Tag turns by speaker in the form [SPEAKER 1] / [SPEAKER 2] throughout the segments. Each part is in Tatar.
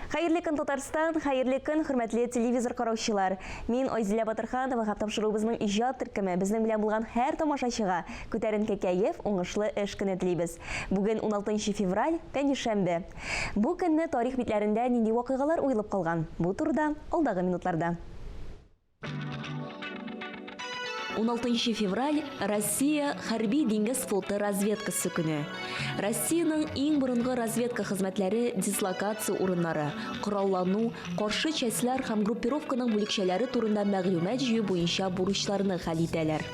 [SPEAKER 1] Хәерле көн Татарстан, хәерле көн хөрмәтле телевизор караучылар. Мин Айзилә Батырханова һәм тапшыруыбызның иҗат төркеме безнең белән булган һәр тамашачыга күтәренке кәеф, уңышлы эш көне телибез. Бүген 16 февраль, пәнҗешәмбе. Бу көнне тарих битләрендә нинди вакыйгалар уелып калган? Бу турыда алдагы минутларда. 16 февраль Россия хәрби диңгез флоты разведкасы көне. Россиянең иң борынгы разведка хезмәтләре дислокация урыннары, кораллану, каршы частьләр һәм группировканың бүлекчәләре турында мәгълүмат җыю буенча бурычларны хәл итәләр.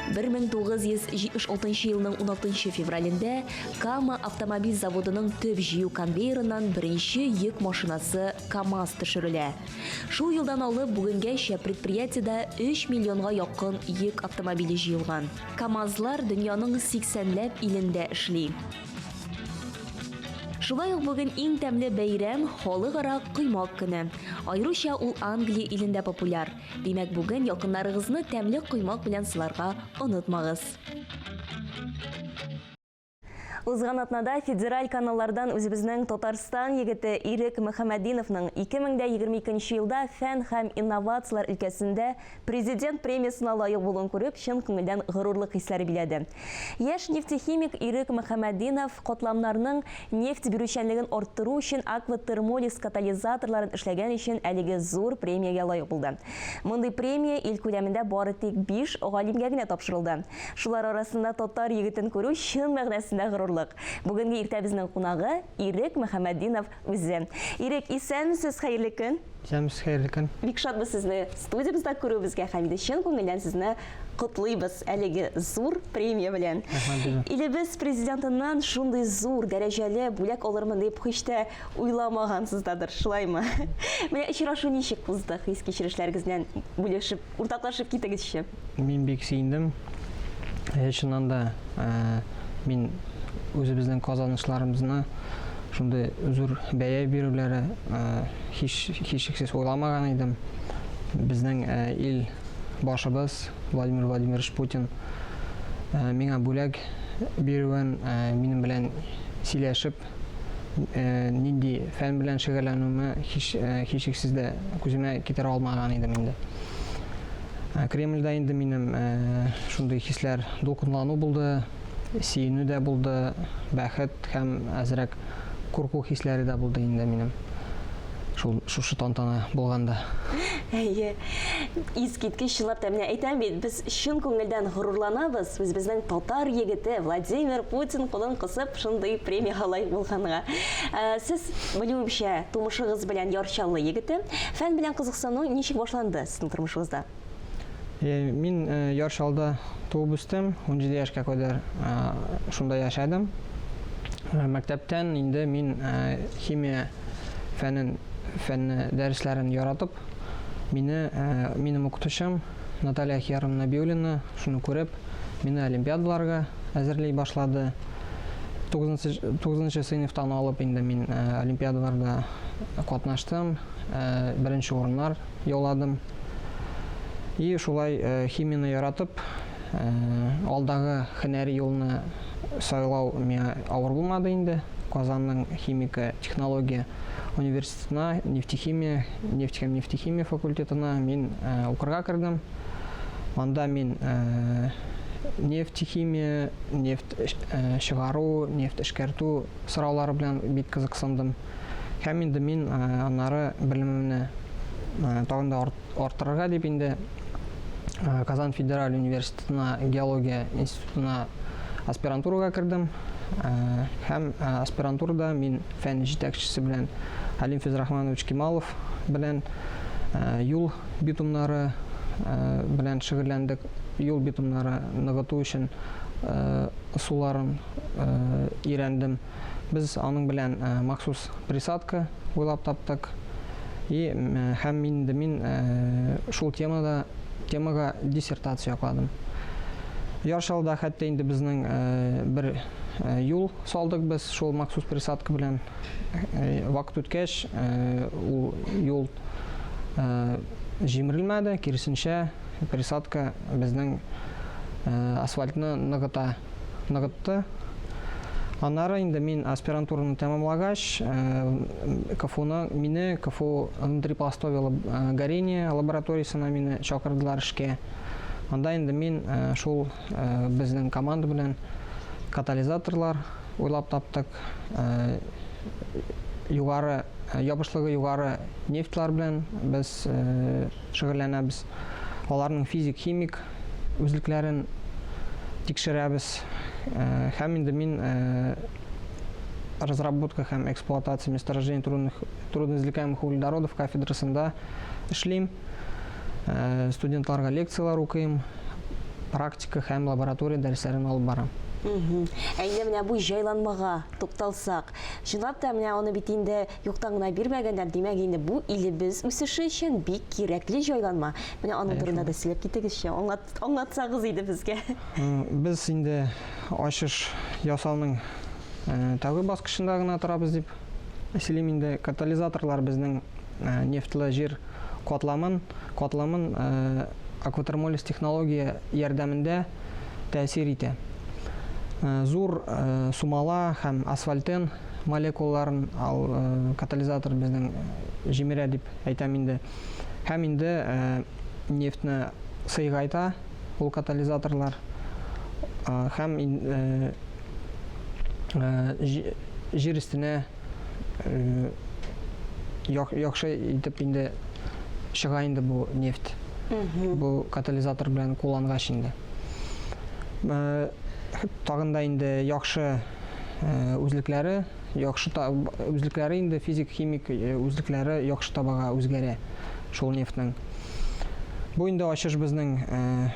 [SPEAKER 1] 1976 елның 16 февралендә Кама автомобиль заводының төп җыю конвейерыннан беренче йөк машинасы КАМАЗ төшерелә. Шул елдан алып бүгенгәчә предприятиедә 3 миллионга якын йөк автомобиле җыелган. КАМАЗлар дөньяның 80 ләп илендә эшли. Шулай ук бүген иң тәмле бәйрәм, Халыкара коймак көне. Аеруча ул Англия илендә популяр. Димәк, бүген якыннарыгызны тәмле коймак белән сыларга онытмагыз. Узган атнада федераль каналлардан үзебезнең Татарстан егете Ирек Мөхәммәдиновның 2022 елда фән һәм инновацияләр өлкәсендә президент премиясына лаек булуын күреп, чын күңелдән горурлык хисләре биләде. Яшь нефтехимик Ирек Мөхәммәтдинов котламнарның нефть бирүчәнлеген арттыру өчен Аква Термолис катализаторларын эшләгән өчен әлеге зур премиягә лаек булды. Мондый премия ил күләмендә бары тик биш галимгә генә тапшырылды. Шулар арасында татар егетен күрү чын мәгънәсендә горурлык. Бүгенге иртәбезнең кунагы, Ирек Мөхәммәтдинов Үзе. Ирек, исәнмесез, хәерле көн. Исәнмесез, хәерле көн.
[SPEAKER 2] Бик шатбыз сезне
[SPEAKER 1] студиябездә күрүебезгә һәм инде чын күңелдән сезне котлыйбыз әлеге зур премия белән. Илебез президентыннан шундый зур дәрәҗәле бүләк алырмын дип һич тә уйламагансыз дадыр, шулаймы? Менә очрашу ничек узды, хис-кичерешләрегез белән бүлешеп, уртаклашып китегезче. Мин бик сөендем.
[SPEAKER 2] Э, чыннан да э, мин үзебезнең казанышларыбызны шундый зур бәя бирүләре э, һич һичшиксез уйламаган идем. Безнең ил башыбыз Владимир Владимирович Путин миңа бүләк бирүен, минем белән сөйләшеп э, нинди фән белән шөгәләнүемә һич, э, һичшиксез дә күземә китерә алмаган идем инде. Э, Кремльдә инде минем э, шундый хисләр дулкынлану булды, сөенү дә булды, бәхет һәм әзрәк курку хисләре дә булды инде минем. Шул шушы тантана булганда. Әйе.
[SPEAKER 1] Искиткеч чынлап та менә әйтәм бит, без чын күңелдән горурланабыз. Үзебезнең татар егете Владимир Путин кулын кысып, Шундый премиягә лаек булганга. Ә, Сез, белүемчә, тумышыгыз белән Яр Чаллы егете. Фән белән кызыксыну ничек башланды сезнең тормышыгызда? Э,
[SPEAKER 2] Мин э, Яр Чаллыда туып үстем, 17 яшькә кадәр э, шунда яшәдем. Э, Мәктәптән инде мин э, химия фәнен фәнне дәресләрен яратып, мине э, минем укытучым Наталья Ахьярова Нәбиуллина, шуны күреп, мине олимпиадаларга әзерли башлады. Тугызынчы сыйныфтан алып инде мин олимпиадаларда катнаштым, беренче урыннар яуладым. И шулай химияне яратып, алдагы хенәри юлны сайлау миңа авыр булмады инде. Казанның химика технология университеты Сна, нефтехимия, нефть һәм нефтехимия факультетына мин укырга кердем. Анда мин нефтехимия, нефть чыгару, нефть эшкәртү сораулары белән бик кызыксындым. Һәм инде мин аннары белемемне тагын да Арттырырга дип инде Казан федераль университетына геология институтына аспирантурага кердем. Һәм аспирантурада мин фән җитәкчесе белән Алим Физрахманович Кималов белән юл битумнары белән шөгыльләндек. Юл битумнары ныгыту өчен ысулларын өйрәндем. Без аның белән махсус присадка уйлап таптык. И һәм инде мин шул темада темага диссертация якладым. Яршалда хәтта инде безнең бер юл салдык без шул махсус присадка белән. Вакыт үткәч, ул юл җимерелмәде, киресенчә, присадка безнең асфальтны ныгыта. ныгытты. Аннары инде мин аспирантураны тәмамлагач, КФУны, мине КФУ внутри пластового горения лабораториясенә мине чакырдылар эшкә. Анда инде мин шул безнең команда белән катализаторлар уйлап таптык. Югары ябышлыгы югары нефтьлар белән без шөгыльләнәбез. Аларның физик-химик үзлекләрен тикшерәбез. Һәм инде мин разработка һәм эксплуатация месторождений трудных трудно извлекаемых углеводородов кафедрасында эшлим. Студентларга лекцияләр укыйм, практика һәм лаборатория дәресләрен алып барам. Әйдә
[SPEAKER 1] менә бу җайланмага тукталсак. Чынлап та менә аны бит инде Юктан гына бирмәгәннәр, димәк инде бу илебез үсеше өчен бик кирәкле җайланма. Менә аның турында да сөйләп китегезче, аңлатсагыз иде безгә. Без
[SPEAKER 2] инде ачыш ясауның тәүге баскычында гына торабыз дип сөйлим инде. Катализаторлар безнең нефтьлы җир катламын катламын акватермолиз технология ярдәмендә тәэсир итә. Зур сумала һәм асфальтен молекулаларын ал, э, катализатор безнең җимерә дип әйтәм инде. Һәм инде э, нефтьне сыйгайта ул катализаторлар. Э, һәм э, э, җир өстенә э, яхшы итеп инде чыга инде бу нефть. Бу катализатор белән куллангач инде. Э, тагында инде яхшы үзлекләре яхшы үзлекләре инде физик химик үзлекләре яхшы табага үзгәрә шул нефтьнең бу инде ачыш безнең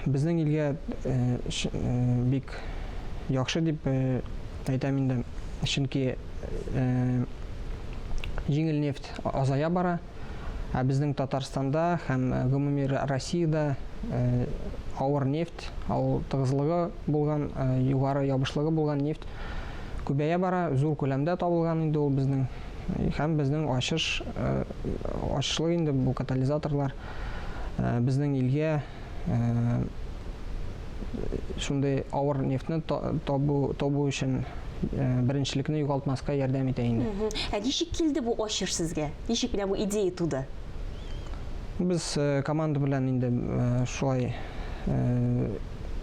[SPEAKER 2] безнең илгә бик яхшы дип әйтәм инде чөнки җиңел нефть азая бара Ә безнең Татарстанда һәм гомуми Россиядә авыр нефть, ау тыгызлыгы булган, югары ябышлыгы булган нефть күбәя бара, зур күләмдә табылган инде ул безнең һәм безнең ачыш ачышлык инде бу катализаторлар безнең илгә шундый авыр нефтьне табу табу өчен беренчелекне югалтмаска ярдәм итә инде. Ә ничек килде
[SPEAKER 1] бу ачыш сезгә? Ничек менә бу идея туды?
[SPEAKER 2] Без команда белән инде шулай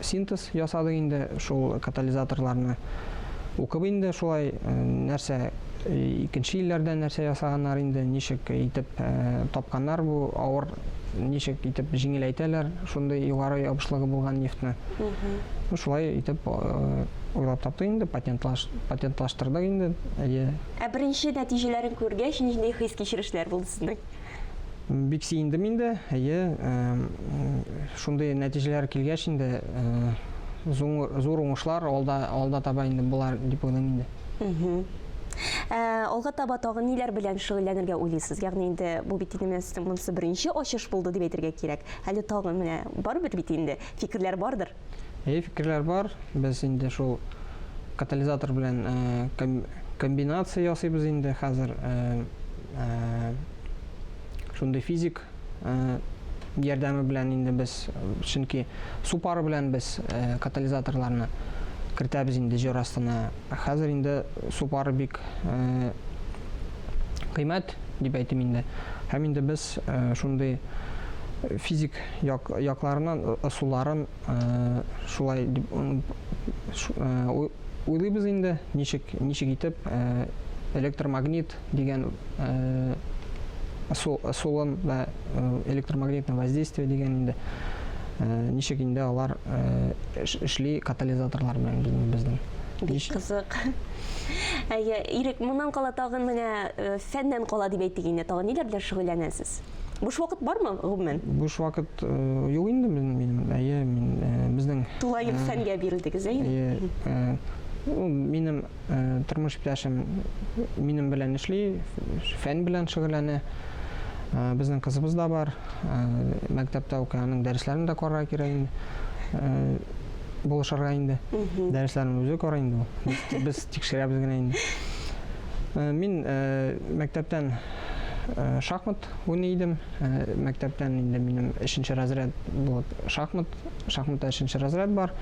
[SPEAKER 2] синтез ясадык инде шул катализаторларны укып инде шулай нәрсә икенче илләрдә нәрсә ясаганнар инде ничек итеп тапканнар бу авыр ничек итеп җиңеләйтәләр шундый югары ябышлыгы булган нефтьне. Ну, шулай итеп уйлап таптык инде, патентлаш, патентлаштырдык инде. Әйе. Ә беренче
[SPEAKER 1] нәтиҗәләрен күргәч, нинди хис-кичерешләр булды сезнең? Бик
[SPEAKER 2] сөендем инде. Әйе, шундый нәтиҗәләр килгәч инде зур уңышлар алда алда таба инде болар дип уйлыйм инде. Ә,
[SPEAKER 1] алга таба тагын ниләр белән шөгыльләнергә уйлыйсыз? Ягъни инде бу бит инде менә сезнең монысы беренче ачыш булды дип әйтергә кирәк. Әле тагын менә барыбер бит инде фикерләр бардыр. Әйе, фикерләр
[SPEAKER 2] бар. Без инде шул катализатор белән комбинация ясыйбыз инде хәзер. Шундый физик ярдәме белән инде без, чөнки су пары белән без катализаторларны кертәбез инде җир астына. Хәзер инде су пары бик кыйммәт дип әйтим инде. Һәм инде без шундый физик як, якларыннан ысулларын шулай дип уйлыйбыз инде, ничек ничек итеп электромагнит дигән солон вә электромагнитное воздействие дигән инде ничек инде алар эшли катализаторлар белән безнең бик кызык
[SPEAKER 1] әйе ирек моннан кала тагын менә фәннән кала дип әйтик инде тагын ниләр белән шөгыльләнәсез Буш вакыт бармы гомумән? Буш вакыт
[SPEAKER 2] э, юк инде минем. Әйе, мин э, безнең Тулаем э, фәнгә
[SPEAKER 1] бирелдегез, әйе? Әйе. Э,
[SPEAKER 2] минем Тормыш иптәшем минем белән эшли, фән белән шөгыльләнә. Безнең кызыбыз да бар. Мәктәптә укый, аның дәресләрен дә карарга кирәк инде. Булышырга инде. Дәресләрен үзе карый инде. Без тикшерәбез генә инде. Мин мәктәптән шахмат уйный идем. Мәктәптән инде минем 3 разряд булып шахмат шахматта өченче разряд бар.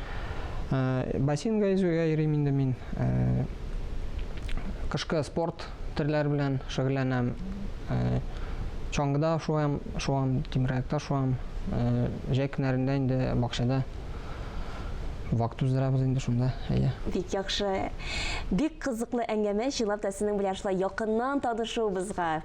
[SPEAKER 2] Э, бассейнга йөзүгә йөрим инде мин. Э, кышкы спорт төрләре белән шөгыльләнәм. Э, чаңгыда шуам, шуам, тимераякта шуам. Җәй көннәрендә инде бакчада вакыт уздырабыз инде шунда. Әйе. Бик яхшы.
[SPEAKER 1] Бик кызыклы әңгәмә, чынлап та сезнең белән шулай якыннан танышуыбызга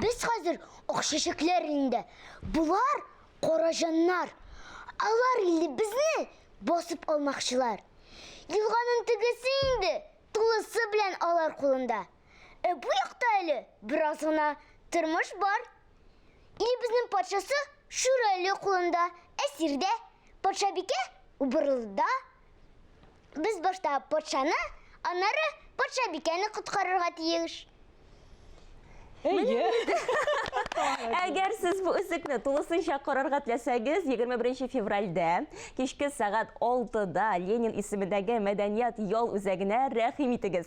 [SPEAKER 3] Без хәзер акшәшекләр инде. Булар караҗаннар. Алар инде безне басып алмакчылар. Елганың тегесе инде тулысы белән алар кулында. Ә бу якта әле бераз гына тормыш бар. Илебезнең патшасы Шүрәле кулында, әсирдә, патшабикә Убырлыда. Без башта патшаны, аннары патшабикәне коткарырга тиеш. Әйе.
[SPEAKER 1] Әгәр сез бу үзекне тулысынча карарга теләсәгез, 21 февральдә кичке сәгать 6-да Ленин исемендәге мәдәният ял үзәгенә рәхим итегез.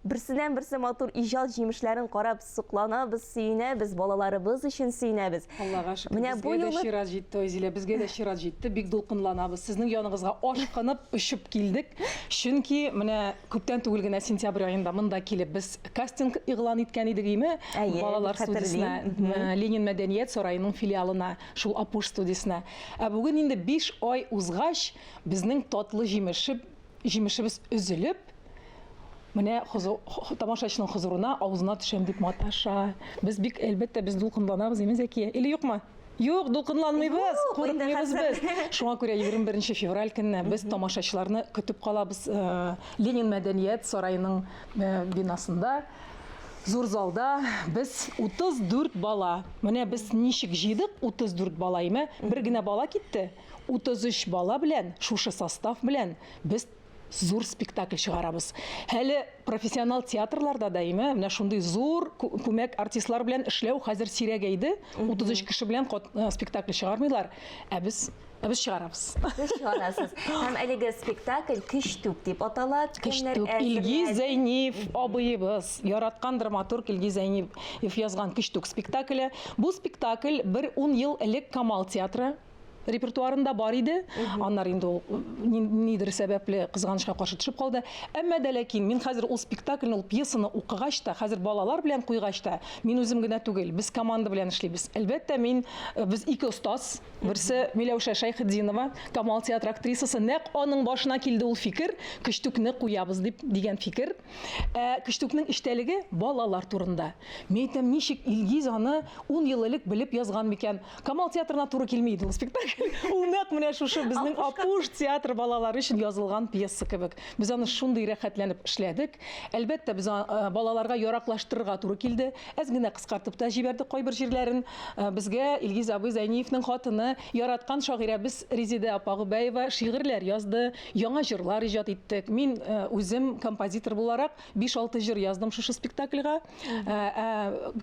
[SPEAKER 1] Берсеннән-берсе матур иҗат җимешләрен карап сокланабыз, сөенәбез, балаларыбыз өчен сөенәбез. Аллага шөкер, Менә бу
[SPEAKER 4] безгә дә юлы чират
[SPEAKER 1] җитте, Айзилә, безгә
[SPEAKER 4] дә чират җитте. Бик дулкынланабыз. Сезнең яныгызга ашкынып, очып килдек. Чөнки менә күптән түгел генә сентябрь аенда монда килеп без кастинг игълан иткән идек, име? Әйе, Балалар студиясенә, хәтерлим. Мгм. э, Ленин мәдәният сараеның филиалына, шул Апуш студиясенә. Ә бүген инде биш ай узгач, безнең татлы җимеше Җимешебез өзелеп, менә тамашачының хозурына, авызына төшәм дип маташа. Без бик, әлбәттә, без дулкынланабыз, имин Зәкия. Или юкмы? Юк, дулкынланмыйбыз, курыкмыйбыз без. Шуңа күрә 21 февраль көнне без тамашачыларны көтеп калабыз э, Ленин мәдәният сараеның э, бинасында зур залда без 34 бала. Менә без ничек җыйдык 34 бала име? Бер генә бала китте. 33 бала белән, шушы состав белән без зур спектакль чыгарабыз. Әле профессионал театрларда да име, менә шундый зур күмәк артистлар белән эшләү хәзер сирәгәйде. 33 кеше белән э, спектакль чыгармыйлар, ә без ә без чыгарабыз. Сез
[SPEAKER 1] чыгарасыз. Һәм әлеге спектакль Көчтүк дип атала. Көчтүк Илгиз
[SPEAKER 4] Зәйниев абыебыз, яраткан драматург Илгиз Зәйниев язган Көчтүк спектакле. Бу спектакль бер 10 ел элек Камал театры репертуарында бар иде аннары инде ул нидер сәбәпле кызганычка каршы төшеп калды әмма дә ләкин мин хәзер ул спектакльне ул пьесаны укыгач та хәзер балалар белән куйгач та мин үзем генә түгел без команда белән эшлибез әлбәттә мин э, без ике остаз берсе миләүшә шәйхетдинова камал театры актрисасы нәкъ аның башына килде ул фикер көчтүкне куябыз дип дигән фикер ә көчтүкнең эчтәлеге балалар турында мин әйтәм ничек илгиз аны ун ел элек белеп язган микән Камал театрына туры килми иде ул спектакль. Ул нәкъ менә шушы безнең Апуш театр балалары өчен язылган пьеса кебек. Без аны шундый рәхәтләнеп эшләдек. Әлбәттә, без э, балаларга яраклаштырырга туры килде. Әз генә кыскартып та җибәрдек кайбер җирләрен. Э, безгә Илгиз абый Зәйниевның хатыны, яраткан шагыйрәбез Резидә апа Губәева шигырьләр язды, яңа җырлар иҗат иттек. Мин э, үзем композитор буларак 5-6 җыр яздым шушы спектакльга.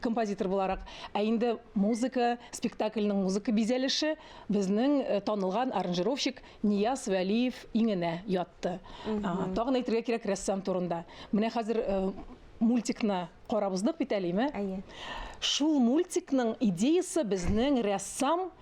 [SPEAKER 4] композитор буларак. Ә инде музыка, спектакльның музыка бизәлеше безнең танылган аранжировщик Нияз Вәлиев иңенә ятты. Тагын әйтергә кирәк рәссам турында. Менә хәзер мультикны карап уздык бит әлеме?
[SPEAKER 1] Шул
[SPEAKER 4] мультикның идеясы безнең рәссам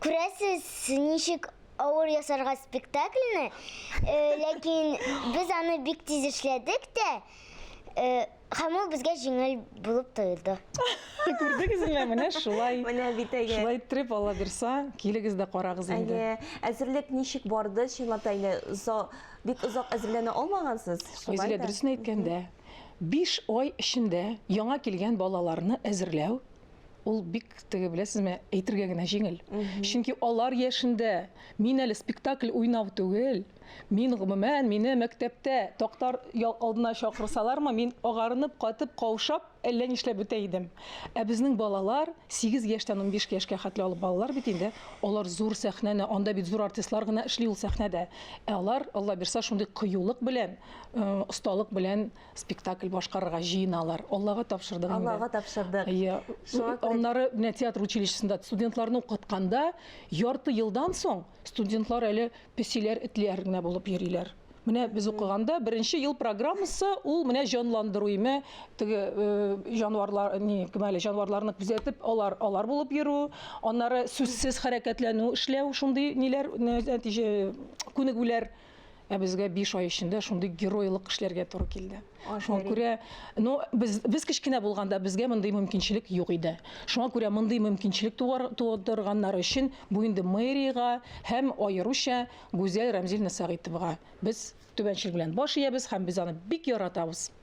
[SPEAKER 3] Күрәсез, ничек авыр ясарга спектакльне, э, ләкин без аны бик тиз эшләдек тә, э, һәм ул безгә җиңел булып тоелды. Күрдегезме,
[SPEAKER 4] менә шулай. Менә бит әйе. Шулай
[SPEAKER 1] иттереп, Алла бирса,
[SPEAKER 4] килегез дә карагыз инде. Әйе, әзерлек
[SPEAKER 1] ничек барды, чынлап та инде зо- бик озак әзерләнә алмагансыз. шулай Айзилә, да. дөресен
[SPEAKER 4] әйткәндә, биш ай эчендә яңа килгән балаларны әзерләү ул бик теге беләсезме әйтергә генә җиңел чөнки алар яшендә мин әле спектакль уйнау түгел мин гомумән мине мәктәптә тактар алдына чакырсалармы мин агарынып катып каушап әллә нишләп бетә идем ә безнең балалар 8 яшьтән 15 яшькә хәтле алып балалар бит инде алар зур сәхнәне анда бит зур артистлар гына эшли ул сәхнәдә ә алар алла бирса шундый кыюлык белән осталык белән спектакль башкарырга җыеналар. Аллага тапшырдык инде. Аллага тапшырдык. Иә.
[SPEAKER 1] Аннары
[SPEAKER 4] менә театр училищесында студентларны укытканда ярты елдан соң студентлар әле песиләр, этләр генә булып йөриләр. Менә без укыганда беренче ел программасы ул менә җанландыру име, теге э, җанварлар, ни, кем әле җанварларны күзәтеп, алар алар булып йөрү, аннары сүзсез хәрәкәтләнү, эшләү, шундый ниләр, нәтиҗә күнегүләр ә безгә биш ай эчендә шундый геройлык эшләргә туры килде. Шуңа күрә, ну, без без кечкенә булганда безгә мондый мөмкинчелек юк иде. Шуңа күрә мондый мөмкинчелек тудырганнар өчен бу инде мэриягә һәм аеруча Гүзәл Рәмзиловна Сәгыйтовага без түбәнчел белән баш иябез һәм без аны бик яратабыз.